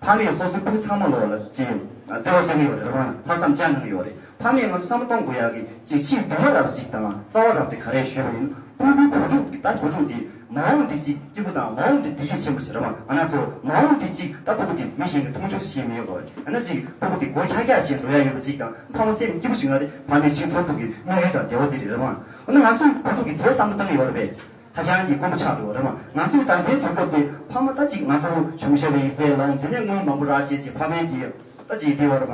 ཕ་མེས་སོ་སོའི་བུ་ཚང་མ་ལོག་ལ་བརྩི་ཡོད། བརྩི་བ་ཞིག་ཡོད་རེད་བ། ལྷག་བསམ་ཅང་གང་ཡོད་རེད། ཕ་མེས་ང་ཚོ་བསམ་བློ་གཏོང་དགོས་ཡག་གི་ཅིག་ཕྱིའི་འདུན་མ་རབས་ཞིག་དང་རྩ་བ་རབས་དེ་ག་རེ་ཞུས་པ་ཡིན་སྤུན་དགུའི་བུ་ཕྲུག་གི་ད་བུ་ཕྲུག་འདི་མ་འོངས་དེ་ཅིག་སྐྱིད་པོ་དང་མ་འོངས་དེ་བདེ་སྐྱིད་ཆེན་པོ་ཞིག་རེད་བ་ང་ན་ཚོ་མ་འོངས་དེ་ཅིག་ད་སྤུ་གུ་འདི་མི་གཞན་གི་མཐོང་ཆུང་ཞིག་མི་ཡོད་དགོས་རེད་ང་ན་ཅིག་སྤུ་གུ་འདི་སྒོ་ཁྱག་ཁྱག་བྱས་འགྲོ་ཡག་ཡོད་པ་ཅིག་དང་ཕ་མ་སེམས་སྐྱིད་པོ་ཞིག་ན་རེ་ཕ་མེས་ཕྱིར་འཐོར་ཐུབ་གི་དམིགས་ཡུལ་དང་བདེ་བ་དེ་རེད་རེད་བ་ང་ཚོའི་བུ་ཕྲུག་གི་དེ་བསམ་བློ་བཏང་ཡོད་རེད་པས། ཧ་ཅང་གི་དཀོན་པོ་ཆགས་འདུག་རེད་མ་ང་ཚོས་ད་ལྟའི་དུས་སྐབས་འདི་ཕ་མ་ལྟ་ཅིག་ང་ཚོ་བྱུང་ཞེས་པའི་ཡིག་རྩལ་ལ་འདི་ནས་སྔོན་མ་པོ་ར་ཞེས་ཀྱི་ཕ་བོན་གྱིས་ལྟ་ཅིག་འདི་འོར་མ་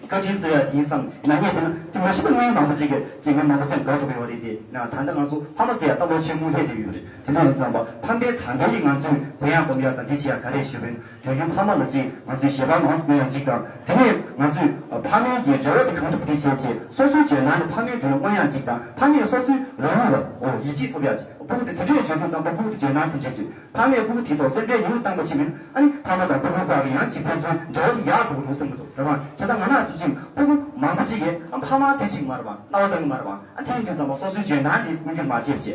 བཀའ་དྲིན་གསོལ་ཡ་དེའི་བསམ་ན་ངས་འདི་ན་དེ་མ་ཤི་ན་སྔོན་མ་པོ་ཅིག་གིས་ཅིག་སྔོན་མ་པོ་སེམས་དགའ་འགྲོ་གི་ཡོད་རེད་དེ་ན་ད་ལྟ་ང་ཚོ་ཕ་མ་ཟེར་ཡ་ལྟ་ལོ་ཆེན་མོ་ལྷས་བསྡད་ཡོད་རེད་དེ་འདྲ་ཡིན་ཙང་པ་ཕམ་པའི་ད་ལྟའི་རིགས་ང་ཚོས་དེ་ཡང་སྒོམ་ཡ་དང་འདི་བྱེད་ཡ་ག་རེ་ཞུ་བོན་རྒྱ་རྒན་ཕ་མ་ལ་གཅིག་ང་ཚོའི་ཞལ་པར་མང་སུ་དགོས་ཡང་གཅིག་དང་དེ་ནས་ང་ཚོས་ཕ་མའི་གི་རེ་བ་དེ་གང་ཐུབ་དེ་བྱས་བྱས་སོ་སོའི་ཇོན་ནང་ནས་ཕ་མའི་དོན་ལ་མངོན་ཡང་གཅིག་དང་ཕ་མས་སོ་སོའི་རང་ལུས་ལ་འོ་ཡིད་ཆེས་ཐོབ་ཡང་གཅིག་སྤུ་གུ་དེ་དེ་འདྲས་བྱོས་དུས་ཙང་པ་སྤུ་གུ་དེ་ཇོན་ནང་དེ་འདྲས་བྱོས་ཕ་མས་སྤུ་གུ་དེའི་ཐོག་སེམས་ཁྲལ་ཉུང་རུ་བཏང་པ་ཕྱིན་མིན་ཨ་ནི་ཕ་མ་དང་སྤུ་གུའི་བར་གི་ཡང་གཅིག་ཕན་ཚུན་འབྲེལ་བ་དེ་ཡག་འགྲོ་གི་འདུག་བསམ་གི་འདུག་རེད་བ་བྱས་ཙང་ང་ནག་སུ་གཅིག་སྤུ་གུ་མང་པོ་གཅིག་གི་ཕ་མ་དེ་གཅིག་མ་རེད་བ་རྣ་བ་གཏང་གི་མ་རེད་བ་ཨ་དེའི་དུས་ཙང་པ་སོ་སོའི་ཇོན་ནང་དེ་མངོན་འགྱུར་མ་བྱས་བྱས།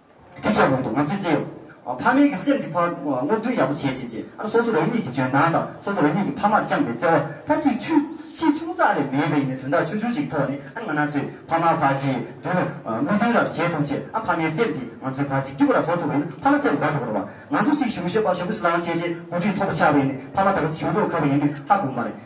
གུས་ཞབས་གནང་འདུག་ང་ཚོས་ཅི་ཡོད། ཕ་མེས་ཀྱི་སེམས་ཀྱི་བར་སྔོག་འདོན་ཡག་པོ་བྱེད་བྱེད་ཅེས་ཨ་ནི་སོ་སོ་རང་ཉིད་ཀྱི་འཇོན་ཐང་དང་སོ་སོ་རང་ཉིད་ཀྱི་ཕ་མར་བཅངས་པའི་བརྩེ་བ་མཐར་ཕྱིན་ཆུ་ཆེ་ཆུང་ཙག་ལས་མེད་པའི་ཡིན་ནའི་དོན་དག་ཆུང་ཆུང་ཞིག་གི་ཐོག་ནས་ཨ་ནི་ང་ན་ཚོས་ཕ་མ་ཕ་གཅིག་མདུན་ལ་མིག་མདུན་རབ་བྱེད་ཐུབ་ཆེད་ཨ་ཕ་མའི་སེམས་དེ་ང་ཚོས་ཕ་གཅིག་སྐྱིད་པོ་ར་བཟོ་ཐུབ་པ་ཡིན་ན་ཕ་མ་སེམས་དགའ་འགྲོ་གི་རེད་བ། ང་ཚོ་གཅིག་གཞུང་ཞབས་པ་ཞབས་ཞུ་ལང་བྱེད་ཆེད་འགོ་ཁྲིད་ཐོབ་པ་ཆགས་པ་ཡིན་ནའི་ཕ་མ་དག་གཅིག་གཞུང་ཐོག་ཁ་བ་ཡིན་དུས་ཧ་གོ་གི་མ་རེད།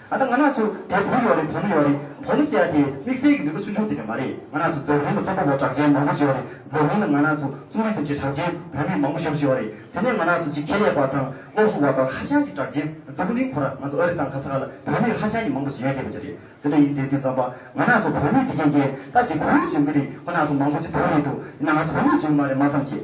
ད་ལྟ་ང་ནགས་སུ་དལ་བུར་ཡོང་རེ་བོ་མི་ཡོང་རེ་བོ་མི་ཟེར་ཡ་དེ་དམིགས་བསལ་གྱི་ནུས་པ་སུན་ཕྱུང་དེ་འདྲ་མ་རེད་ང་ནགས་སུ་འཛམ་གླིང་དུ་རྩོམ་པ་པོ་གྲགས་ཅན་མང་པོ་ཞིག་ཡོང་རེ་འཛམ་གླིང་ན་ང་ནགས་སུ་རྩོམ་རིག་ཐེབས་ཆེད་གྲགས་ཅན་བོད་མི་མང་པོ་ཞབས་ཞུ་ཡོང་རེ་དེ་ནས་ང་ནགས་སུ་ཆེད་མཁས་ལས་པ་དང་སློབ་གསོ་བ་དང་ཧ་ཅང་གི་གྲགས་ཅན་རྫོང་གླིང་ཁོ་ར་ང་ཚོ་ཨ་རི་དང་གྷ་ས་ཧ་ལ་བོད་མི་ཧ་ཅང་གི་མང་པོ་ཞིག་ཡོད་སྡད་པ་ཅི་རེད་དེ་འདྲ་ཡིན་དེ་དུས་རྩམ་པ་ང་ནགས་སུ་བོད་མི་དེ་གན་རྒྱལ་ད་ཇི་གུ་ཡོད་བྱུང་གི་རེད་ཁོ་ནགས་སུ་མང་པོ་ཅིག་བོད་རེད་འདུག་དེ་ནགས་སུ་བོད་མི་བྱུང་གི་མ་རེད་མ་བསམ་ཆེད།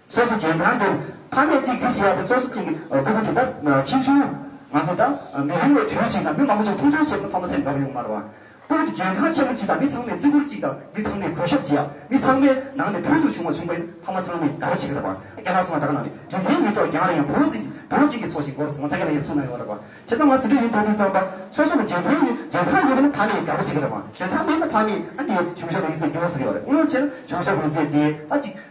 སོ་སོ་འཇོན་ཐང་དུ་ཕ་མེས་གཅིག་དེ་ཞེས་ཡ་དེ་སོ་སོ་གཅིག་གི་སྐུ་གོ་དེ་ད་ཕྱིན་ཆུང། མ་གསུངས་ད་མི་རིང་བའི་དུས་ཤིག་ན་མི་མང་པོ་ཅིག་མཐོང་ཆུང་བྱེད་པ་ན་ཕ་མ་སེམས་འགབ་ཡོང་མར་བ། སྐུ་གོ་དེ་འཇོན་ཐང་ཆེན་པོ་གཅིག་དང་མི་ཚང་མས་བརྩི་བཀུར་གཅིག་དང་མི་ཚང་མས་གུས་ཞབས་བྱེད་ཡ་མི་ཚང་མའི་ནང་ནས་ཕུལ་དུ་བྱུང་བ་བྱུང་པ་ཡིན་ཕ་མ་ཚང་མས་དགའ་བོ་བྱེད་ཀྱི་རེད་བ། རྒྱ་ནག་སོང་ན་ད་ག་ནང་ནས་འཇོན་ཐང་མི་ཐོག་རྒྱ་ནག་ཡང་བོད་ཟིན་གྱི་བོད་སྤྱི་གི་ཚོགས་ཞིག་འགོར་སོང་ས་སྐད་ལ་ཡང་ཚུགས་ན་ཡོང་བ་རེད་བ། བྱས་ཙང་ང་དེ་འདྲ་ཡིན་འདོད་མིན་ཙང་ད་སོ་སོ་ལ་འཇོན་ཐང་ཡོད་འཇོན་ཐང་ཡོད་པ་ན་ཕ་མས་དགའ་བོ་བྱེད་ཀྱི་རེད་བ། འཇོན་ཐང་མེད་ན་ཕ་མས་ཨ་འདིའི་གཞུང་ཞབས་ལ་ཡིད་ཚད་སྐྱོ་བོ་ཟེར་གྱི་ཡོད་རེད་དངོས་ཡོད་བྱས་ན་གཞུང་ཞབས་ཡིད་ཚད་དེ་ད་གཅིག་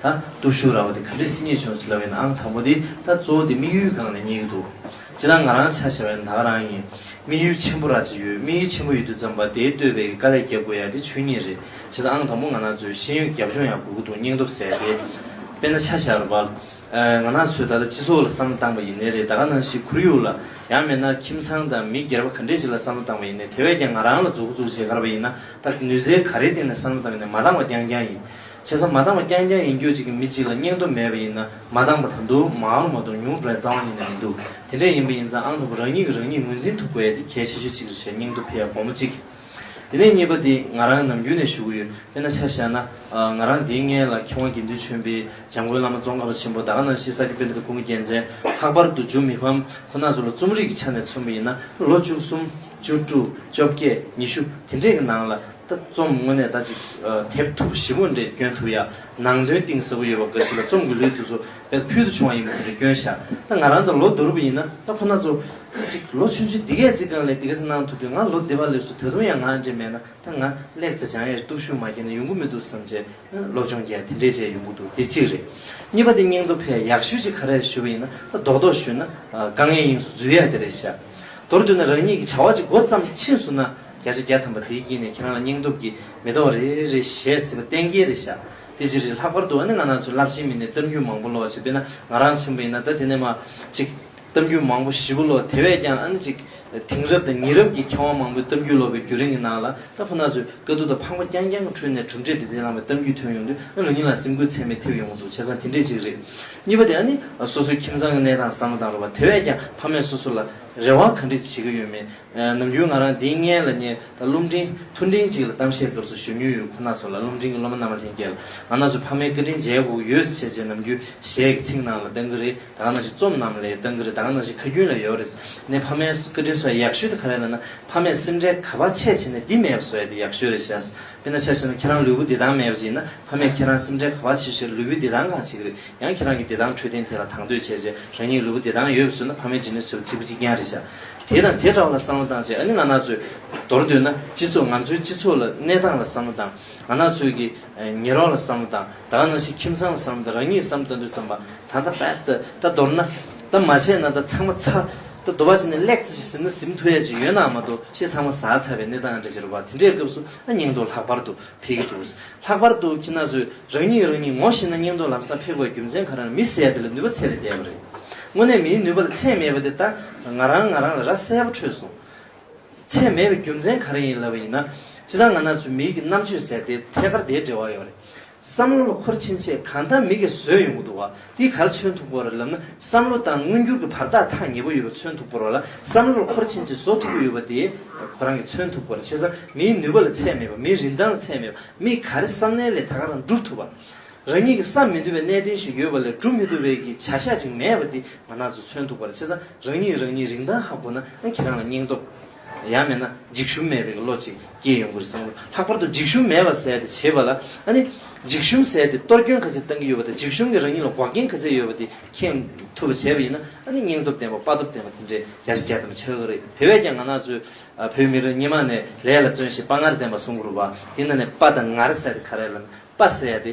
ད་སྟོབས་ཤུགས་རག་པ་དེ་ག་འདྲའི་སིང་ངེ་བྱུང་ཟེར་སླ་བས་ན་ཨང་དང་པོ་དེ་ད་གཙོ་བོ་དེ་དམིགས་ཡུལ་སྒང་ནས་རྙེད་ཀྱི་འདུག་སྤྱིར་ན་ང་རང་ཆ་བྱ་བས་ན་ད་ག་རང་ཡིན། དམིགས་ཡུལ་ཆེན་པོ་རག་ཅིག་ཡོད་དམིགས་ཡུལ་ཆེན་པོ་ཡོད་དུས་ཙམ་པ་དེའི་བསྟོད་པའི་དཀའ་ལས་རྒྱབ་དགོས་ཡ་དེ་ཆོས་ཉིད་རེད་བྱས་ཙང་ཨང་དང་པོ་ང་ནག་ཚོས་ཤེས་ཡོན་རྒྱབ་ལྗོངས་ཡང་དགོས་ཀྱི་འདུག་སྙིང་སྟོབས་ཟད་དེ། དཔེར་ན་ཆ་བྱར་བ། ང་ནག་ཚོས་ད་ལྟ་སྤྱི་ཚོགས་ལ་བསམ་བློ་བཏང་པ་ཡིན་ནའི་རེད་ད་ག་ནང་བཞིན་ཁོར་ཡུག་ལ་ཡང་མེད་ན་ཁྱིམ་ཚང་དང་མི་སྒེར་པ་ག་འདྲས་ཅིག་ལ་བསམ་བློ་བཏང་བ་ཡིན་ནའི་དེ་བས་ཀྱང་ང་རང་ལ་རྫོགས་སྐུ་རྫོགས་བྱེད་གར་བ་ཡིན་ན་ད་ནུས་རྩལ་ག་རེའི་སྟེང་ནས་བསམ་བློ་བཏང་ཡིན་ནའི་མ་བཏང་བ་རྐྱང་རྐྱང་ཡིན། བྱས་ཙང་མ་འདང་བ་རྐྱང་རྐྱང་ཡིན་རྒྱུ་གཅིག་གིས་མི་གཅིག་ལ་སྙིང་སྟོབས་མེད་པ་ཡིན་ན་མ་འདང་བ་དང་དུ་མ་ཨང་མ་དུང་ཉུང་བྲལ་རྩ་བ་ཉིད་ནས་མི་འདུག་དེ་འདྲས་ཡིན་པ་ཡིན་ཙང་ཨང་དང་པོ་རང་ཉིད་ཀྱིས་རང་ཉིད་ངོས་འཛིན་ཐུབ་དགོས་ཡ་དེ་གལ་ཆེ་ཤོས་གཅིག་རེད་བྱས་སྙིང་སྟོབས་འཕེལ་ཡ་གོང་མ་གཅིག་དེ་ནས་གཉིས་པ་དེ་ང་རང་ནམ་རྒྱུན་ནས་ཞུ་གི་ཡོད་དཔེར་ན་ཆ་བཞག་ན་ང་རང་དེའི་སྔས་ལ་མཁས་དབང་དགེ་འདུན་ཆོས་འཕེལ་འཇམ་མགོན་བླ་མ་ཙོང་ཁ་པ་ཆེན་པོ་དག་ནང་བཞིན་ས་དགེ་པེ་ནི་ཏུ་ཁུང་གི་རྒྱལ་མཚན་ལྷག་པར་དུ་འཇུ་མི་ཕམ་ཁོ་ནག་ཚོ་ལ་རྩོམ་རིག་གི་ཆ་ནས་མཚོན་པ་ཡིན་ན་ལོ་བཅུ་གསུམ། བཅུ་དྲུག་བཅོ་བརྒྱད་ཉི་ཤུ་དེ་འདྲས་ཀྱི་ནང་ལ་ད་རྩོམ་དངོས་གནས་ཟླ་གཅིག་དེབ་ཐུབ་བཞི་བོ་འདྲས་བསྐྱོན་ཐུབ་ཡ། ནང་དོན་གཏིང་ཟབ་པོ་ཡོད་པ་འགའ་ཞིག་ལ་རྩོམ་གྱི་ལུས་དེ་ཚོ་བེད་ཕུལ་དུ་བྱུང་བ་ཡིན་པ་དེ་འདྲ་བསྐྱོན་ཤག་ད་ང་རང་ད་ལོ་བསྡུར་བ་ཡིན་ན་ད་ཁོ་ན་ཚོ་ཅིག་ལོ་ཆུང་ཆུང་འདི་གས་ཚིག་རྐང་ལས་འདི་གས་ཚིག་གནང་ཐུབ་དུས་ང་ལོ་འདི་བ་ལེབ་སུ་ད་དུང་ཡང་ང་འདྲས་མེད་ན་ད་ང་ལེགས་ཚེ་འཇང་ཡས་སྟུག་ཤུགས་མ་བསྐྱེད་ན་ཡོང་གི་མི་འདུག་བསམ་བྱས་སློབ་སྦྱོང་རྒྱས་དེ་འདྲས་བྱས་ཡོང་གི་འདུག་དེ་གཅིག་རེད། གཉིས་པ་དེ་སྙིང་སྟོབས་ཕལ་ཡག་ཤོས་ཅིག་ག་རེ་ཞུ་བ་ཡིན་ན་ད་རྡོག་རྡོག་ཞུས་ན་དཀའ་ངལ་དབྱིངས་སུ་འཛུལ་ཡ་དེ་རེད་ཤག། མདོར་བསྡུས་ན་རང་ཉིད་ཀྱི་བྱ་བ་གཅིག་མགོ་བརྩམས་ཕྱིན་སུ་ན་བརྒྱ་ཆ་བརྒྱ་ཐམ་པ་དེའི་དཀྱིལ་ནས་ཁྱེད་རང་ལ་སྙིང་སྟོབས་ཀྱིས་མེ་ཏོག་རེ་རེ་བཞད་ཟེར་བ་གཏན་འཁེལ་རེད་བཞག་དེ་ཕྱིར་རེད་ལྷག་པར་དུ་ཨ་ནི་ང་ནང་ཚུན་རླབས་ཆེན་མི་སྣའི་གཏམ་རྒྱུད་མང་པོ་ཀློག་བྱེད་དཔེར་ན་ང་རང་ཚུན་པ་ཡིན་ན་ད་དེ་ནས་མ་གཅིག་གཏམ་རྒྱུད་མང་པོ་བཞི་པོ་ཀློག་དེ་བས་ཀྱང་ཨ་ནི་གཅིག་དེང་རབས་དང་ཉི་རབས་ཀྱི་མཁས་དབང་མང་པོའི་གཏམ་རྒྱུད་ཀློག་པའི་རྒྱུན་རིང་གི་ནང་ལ་ད་ཁོ་ན་ཚོས་དཀའ་སྡུག་དང་ཕངས་པ་རྐྱང་རྐྱང་གི་ཁྲོད་ནས་གྲུབ་འབྲས་བདེ་ལྡན་བླངས་པའི་གཏམ་རྒྱུད་ཐོན་ཡོང་དུས་ཨ་ནི་ལོ་གཉིས་ལ་སེམས་འགུལ་ཚད་མེད་ཐེབས་ཡོང་གི་འདུག་བྱས་ཙང་དེ་འདྲའི་ཅིག་རེད། གཉིས་པ་དེ་ཡང་ནི་སོ་སོའི་ཁྱིམ་ཚང་གི་གནས་སྟངས་བསམ་བློ་བཏང་རོགས་པ་དེ་བས་ཀྱང་ཕ་མས་སོ་སོ་ལ་རེ་བ་ག་འདྲི་བྱེད་ཀྱི་ཡོད་མེད་ནམ་རྒྱུན་ང་རང་འདིའི་མངལ་ལ་ཉལ་ད་རླུང་འཕྲིན་ཐུར་འཕྲིན་གཅིག་ལ་གཏམ་བཤད་འདོར་སུ་ཞུ་མྱོས་ཡོད་ཁོ་ན་ཚོ་ལ་རླུང་འཕྲིན་གྱི་སློབ་མ་རྣམ་པ་ལྷན་རྒྱས་ལ་ང་ན་ཚོ་ཕ་མའི་བཀའ་དྲིན་མཇལ་དགོས་ཀྱི་ཡོད་ཟེར་བྱས་རྗེས་ནམ་རྒྱུན་གཞས་ཀྱི་ཚིག་ནང་ལ་ལྟ་གི་རེད་ད་ག་ན་ཞིག་རྩོམ་རྣམས་ལས་ལྟ་གི་རེད་ད་ག་ན་ཞིག་ཁ་རྒྱུན་ལས་ཡོད་རེད་ནས་ཕ་མའི་བཀའ་དྲིན་སོ་ཡག་ཤོས་དེ་ག་རེད་ལ་ན་ཕ་མས་སེམས་ཁྲལ་ག་པ་ཆེ་བྱས་ནས་འདི་མེད་པ་བཟོ་ཡ་དེ་ཡག་ཤོས་རེད་བྱས་དཔེར་ན་ཤ་ཤེད་ན་ཁྱེད་རང་ལུས་པོ་བདེ་ཐང་མེད་པ་ཅིག་ཡིན་ན་ཕ་མས་ཁྱེད་རང་སེམས་ཁྲལ་ག་བར་བྱེད་ཞེས་ལུས་པོའི་བདེ་ཐང་གང་བྱེད་ཀྱི་རེད་ཡང་ཁྱེད་རང་གི་བདེ་ཐང་འཕྲོད་བསྟེན་ཐད་ལ་དང་དོད་བྱས་རྗེས་རང་ཉིད་ལུས་པོ་བདེ་ཐང་ཡོད་པ་ཟོས་ན་ཕ་མའི་དྲིན་ལན་ཟོས་པ་གཅིག་པུ་གཅིག་རྐྱང་རེད་ཤག་དེ་དང་དེ་འདྲ་བ་ལ་བསམ་བློ་བཏང་རྗེས་ཨ་ནི་ང་ནག་ཚོས་མདོར་བསྡུས་ན་སྤྱི་ཚོགས་ང་ཚོའི་སྤྱི་ཚོགས་ལ་གནས་སྟངས་ལ་བསམ་བློ་བཏང་ང་ནག་ཚོས་ཀྱི་ཉེ་རོགས་ལ་བསམ་བློ་བཏང་ད་ག་ནང་བཞིན་ཁྱིམ་ཚང་ལ་བསམ་བློ་དང་རང་ཉིད་བསམ་བློ་བཏང་དུས་བརྩམས་པ་ད་ད་པད་ད་མདོར་ན་ད་མ་བྱས་ན་ད་ཚང་མ་ཚ། ད་གདོལ་བ་བྱས་ནས་ལེགས་ཙི་ཞེས་ཟེར་ན་ཟིམ་ཐོ་ཡ་ཅིག་ཡོད་ནའང་མ་གཏོགས་ཤེས་ཚང་མ་ཟ་ཚར་བའི་གནས་སྟངས་འདྲ་ཅི་རུ་བ་དེ་འདྲའི་སྐབས་སུ་ཨ་སྙིང་དོ་ལྷག་པར་དུ་འཕེལ་གི་འདུག་ལྷག་པར་དུ་ཁྱི་ན་ཚོས་རང་ཉིད་རང་ཉིད་ངོ་ཤེས་ན་སྙིང་དོ་ལམ་སང་འཕེལ་དགོས་རྒྱུ་མཚན་ག་རང་མི་གསལ་དེ་ལ་ནུས་པ་ཚད་ལས་འདས་པ་རེད། དངོས་གནས་མིའི་ནུས་པ་ལ་ཚད་མེད་པ་དེ་ད་ང་རང་ང་རང་ལ་ར་གསལ་པོ་འཕྲོད་སོང། ཚད་མེད་པའི་རྒྱུ་མཚན་ག་རེ་ཡིན་ལབ་པ་ཡིན་ན། སྤྱི་ད་ང་ན་ཚོས་མིའི་གི་རྣམ་དཔྱོད་ཟེར་དེ་ཐད་ཀར་དེའི་འབྲེལ་བ་ཡོད་རེད། བསམ་བློ་ལ་འཁོར་ཕྱིན་ཆད་གང་ལྟར་མི་གེ་བཟོས་ཡོང་གི་འདུག་བ་འདིས་ག་ལ་མཚོན་ཐུབ་གོ་རེ་ལབ་ན་བསམ་བློ་དང་མངོན་འགྱུར་གྱི་བར་ཐག་ཐག་ཉེ་པོ་ཡོད་པ་མཚོན་ཐུབ་གོ་རོ་ལ་བསམ་བློ་ལ་འཁོར་ཕྱིན་ཆད་བཟོ་ཐུབ་ཀྱི་ཡོད་པ་དེ་ཁོ་རང་གིས་མཚོན་ཐུབ་གོ་རེ་བྱས་ཙང་མིའི་ནུས་པ་ལ་ཚད་མེད་པ་མིའི་རིན་ཐང་ལ་ཚད་མེད་པ་མིས་ག་རེ་བསམ་ནའི་ལས་ད་ག་རང་བསྒྲུབ་ཐུབ་བ། རང་ཉིད་ཀྱིས་བསམ་མི་ཐུབ་པའི་གནད་དོན་ཞིག་ཡོད་པ་ལས་བསྒྲུབ་མི་ཐུབ་བའི་གི་བྱ་བཞག་ཅིག་མེད་པ་འདི་ང་རང་ཚོས་མཚོན་ཐུབ་གོ་རེ་བྱས་ཙང་རང་ཉིད་ཀྱིས་རང་ཉིད་རིན་ཐང་ཧ་གོ་ན་ཁྱེད་རང་ལ་སྙིང་སྟོབས། ཡང་མེད་ན་འཇིགས་ཞུམ་མེད་པའི་བློ་ཅིག་སྐྱེས་ཡོང་གི་རེད་བསམ་གི་འདུག་ལྷག་པར་དུ་འཇིགས་ཞུམ་མེད་པར་ཟེར་ཏེ་བྱེད་པ་ལ་ཨ་ནི། འཇིགས་ཞུམ་ཟེར་ཏེ་གཏོར་སྐྱོན་ག་ཚད་བཏང་གི་ཡོད་པ་དང་འཇིགས་ཞུམ་གྱིས་རང་ཉིད་ལ་འགོག་རྐྱེན་ག་ཚད་ཡོད་པ་དེ་མཁྱེན་ཐུབ་པ་བྱས་པ་ཡིན་ན་ཨ་ནི་སྙིང་སྟོབས་ལྡན་པ་དཔའ་སྟོབས་ལྡན་པ་དེ་འདྲའི་རྒྱ་ཆེ་རྒྱ་དམ་ཆགས་གི་རེད་དེ་བས་ཀྱང་ང་ནག་ཚོས་བོད་མི་རང་ཉིད་མ་ནས་ལས་ལ་བརྩོན་ཞེས་དཔའ་ངར་ལྡན་པ་གསུང་གི་རུ་བ་དེ་ན་ནས་དཔའ་དང་ངར་ཟེར་ཏེ་ག་རེ་ལ་དཔའ་ཟེར་ཡ་དེ